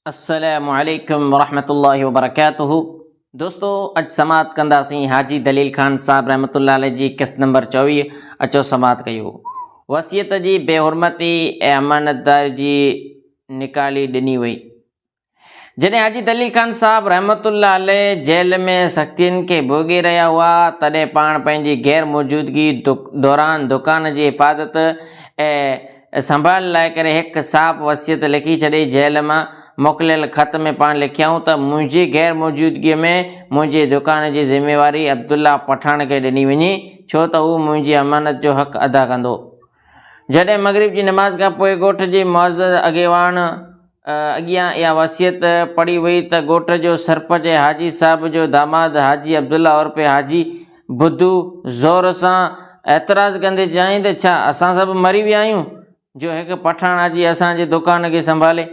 السلام عليڪم ورحمة الله وبرڪاته دوستو اڄ سماعت ڪنداسين حاجي دليل خان صاحب رحمت الله عليه جي قسط نمبر چويهه اچو سماعت ڪيو وصيت جي بي حرمتي ۽ امانتدار جي نڪالي ڏني وئي جڏهن حاجي دليل خان صاحب رحمت الله عليه جيل ۾ سختين کي ڀوڳي رهيا هئا تڏهن پاڻ پنهنجي غير موجودگي دوران دڪان جي حفاظت ۽ سنڀال لاء ڪري هڪ صاف وصيت لکي ڇڏي جيل مان موڪليل خط ۾ پاڻ لکيائون ته منهنجي غير موجودگيء ۾ منهنجي دڪان جي ذميواري عبدالله پٺاڻ کي ڏني وڃي ڇو ته هو منهنجي امانت جو حق ادا ڪندو. جڏهن مغرب جي نماز کان پوء ڳوٺ جي معزز اڳيواڻ، اڳيان اها وصيت پڙهي وئي ته ڳوٺ جو سرپنچ ۽ حاجي صاحب جو داماد حاجي عبدالله عرف حاجي بدو زور سان اعتراض ڪندي چيائين ته ڇا اسان سڀ مري ويا آهيون جو هڪ پٺاڻ اچي اسان جي دڪان کي سنڀالي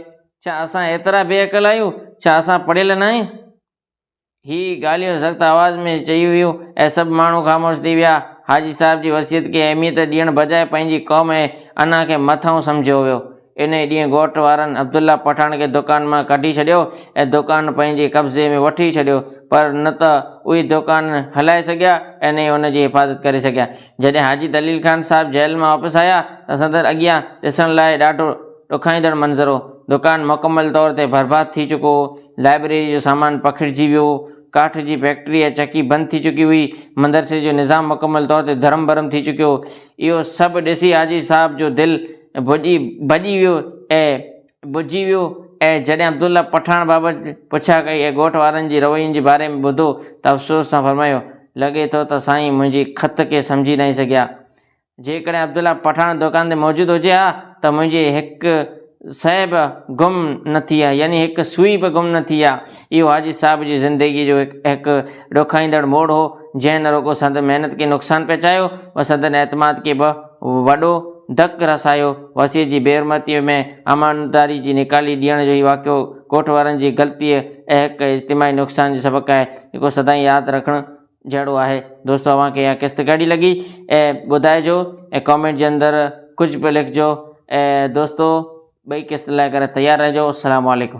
ڇا اسان ايترا بي عقل آهيون ڇا اسان پڙهيل ناهيون هي ڳالهيون سخت آواز ۾ چيون ويون ۽ سڀ ماڻهو خاموش ٿي ويا. حاجي صاحب جي وصيت کي اهميت ڏيڻ بجاء پنهنجي قوم ۽ انا کي مٿانهون سمجهيو ويو. انهيء ڏينهن ڳوٺ وارن عبدالله پٺاڻ کي دوڪان مان ڪڍي ڇڏيو ۽ دوڪان پنهنجي قبضي ۾ وٺي ڇڏيو پر نه ته اهي دوڪان هلائي سگهيا ۽ نه ئي ان جي حفاظت ڪري سگهيا. جڏهن حاجي دليل خان صاحب جيل مان واپس آيا ته سندن اڳيان ڏسڻ لاء ڏاڍو ڏکائيندڙ منظر هو. دڪان مڪمل طور تي برباد ٿي چڪو هو. لائبريري جو سامان پکڙجي ويو هو. ڪاٺ جي فيڪٽري ۽ چڪي بند ٿي چڪي هئي. مدرسي جو نظام مڪمل طور تي ڌرم برم ٿي چڪو هو. اهو سڀ ڏسي حاجي صاحب جو دل ڀڄي ڀڄي ويو ۽ بجهي ويو ۽ جڏهن عبدالله پٺاڻ بابت پڇا ڪئي ۽ ڳوٺ وارن جي روين جي باري ۾ ٻڌو ته افسوس سان فرمايو، لڳي ٿو ته سائين منهنجي خط کي سمجهي ناهي سگهيا. جيڪڏهن عبدالله پٺاڻ دوڪان تي موجود هجي ها ته منهنجي هڪ سئي به گم نه ٿي ها يعني هڪ سوئي به گم نه ٿي ها اهو حاجي صاحب جي زندگيء جو هڪ ڏکائيندڙ موڙ هو جنهن نه رڳو سندن محنت کي نقصان پهچايو پر سندن اعتماد کي به وڏو ڌڪ رسايو وسيع جي بيرحمتيء ۾ امانتداري جي نيڪالي ڏيڻ جو هي واقعو ڳوٺ وارن جي غلطيء ۽ هڪ اجتماعي نقصان جو سبق آهي جيڪو سدائين ياد رکڻ جهڙو آهي دوستو اوهان کي اها قسط ڪهڙي لڳي اي ٻڌائجو اي ڪامينٽ جي اندر ڪجهه به لکجو اي دوستو ٻئي قسط لاء ڪري تيار رهجو السلام عليڪم